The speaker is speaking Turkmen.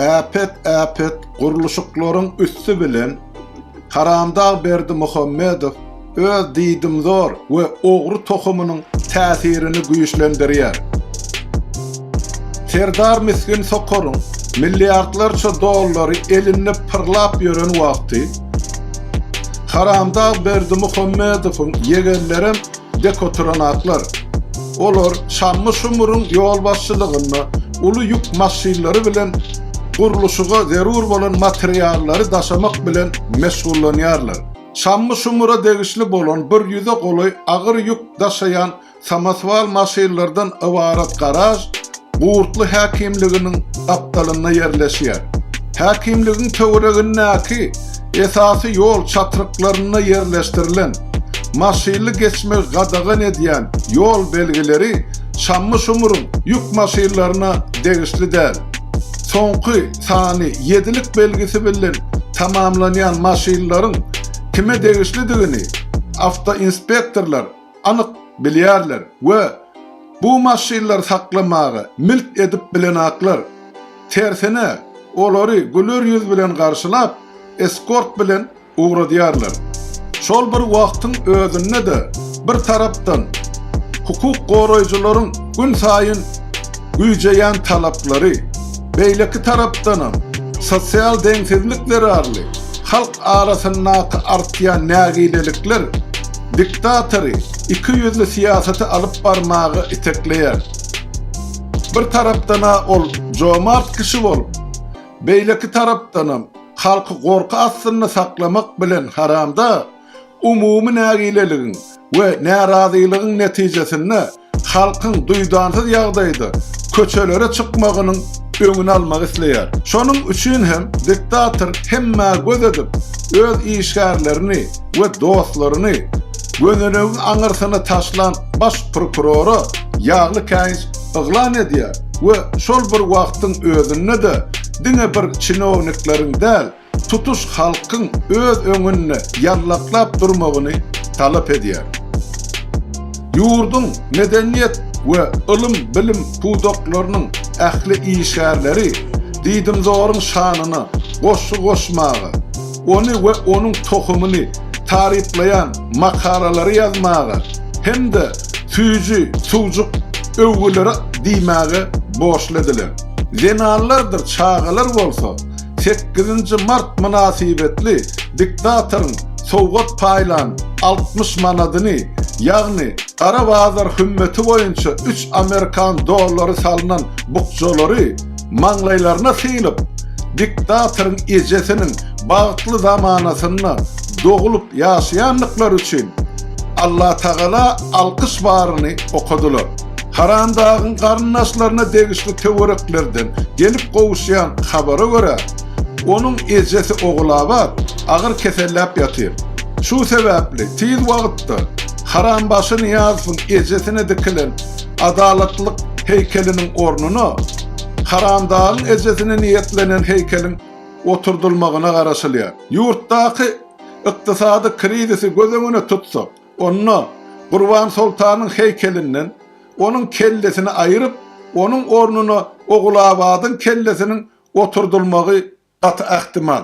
Äpet äpet gurluşyklaryň üsti bilen Haramdag Berdimuhamedow öz diýdimzor we ogry tohumynyň täsirini güýçlendirýär. Serdar misgin sokaryň milliardlarça dollary elinde pyrlap ýören wagty Haramdag Berdimuhamedowyň ýegenlerem Dekoturanaklar. Olar Şammy Şumyryň ýolbaşçylygynda uly ýük maşynlary bilen gurluşyga zerur bolan materiallary daşamak bilen meşgullanýarlar. Şammy Şumyra degişli bolan bir ýüze golaý agyr ýük daşaýan samoswal maşynlardan ybarat garaž, Gurtly häkimliginiň gapdalynda ýerleşýär. Häkimligiň töweregindäki esasy ýol çatryklarynda ýerleşdirilen maşynly geçmegi gadagan edýän ýol belgileri Çammy-Şumryň ýük maşynlaryna degişli däl. Soňky sany ýedilik belgisi bilen tamamlanýan maşynlaryň kime degişlidigini awtoinspektorlar anyk bilýärler we bu maşynlary saklamaga milt edip bilenaklar. Tersine, olary güler ýüz bilen garşylap, eskort bilen ugradýarlar. Şol bir wagtyň özünde-de, bir tarapdan, hukuk goraýjylaryň günsaýyn güýjeýän talaplary, beýleki tarapdanam, sosial deňsizlik zerarly halk arasyndaky artýan nägilelikler, diktatory iki ýüzli syýasaty alyp barmaga itekleýär. Bir tarapdan-a ol jomart kişi bolup, beýleki tarapdanam halky gorky astynda saklamak bilen haramda umumy nägileligiň we närazylygyň netijesinde halkyň duýdansyz ýagdaýda köçelere çykmagynyň öňüni almak isleýär. Şonuň üçin hem diktator hemmä göz edip, öz işgärlerini we dostlaryny gönülegiň aňyrsyna taşlan baş prokurora ýagly käýinç yglan edýär we şol bir wagtyň özünde-de diňe bir çinownikleriň däl, tutuş halkyň öz öňünde ýallaklap durmagyny talap edýär. Ýurduň medeniýet we ylym-bilim pudaklarynyň ähli işgärleri diýdimzoryň şanyna goşgy goşmaga, ony we onuň tohumyny taryplaýan makalalary ýazmaga hem-de süýji suwjuk öwgüleri diýmäge borçly ediler. Zenanlardyr çagalar bolsa sekizinji mart mynasybetli diktatoryň sowgat paýlan altmyş manadyny, ýagny gara bazar hümmeti boýunça üç amerikan dollary salnan bukjalary maňlaýlaryna sylyp, diktatoryň ejesiniň bagtly zamanasynda doglup ýaşaýandyklary üçin Allatagala alkyş baryny okadylar. Haramdagyň garyndaşlaryna degişli töwereklerden gelip gowuşýan habara görä, onuň ejesi Ogulabat agyr keselläp ýatyr. Şu sebäpli tiz wagtda Harambaşy Nyýazowyň ejesine dikilen Adalatlylyk heýkeliniň ornuna Haramdagyň ejesine niýetlenen heýkeliň oturdylmagyna garaşylýar. Ýurtdaky ykdysady krizisi göz öňüne tutsak, Onda Gurban soltanyň heýkelinden onuň kellesini aýryp, onuň ornuna Ogulabadyň kellesiniň oturdylmagy gaty ähtimal.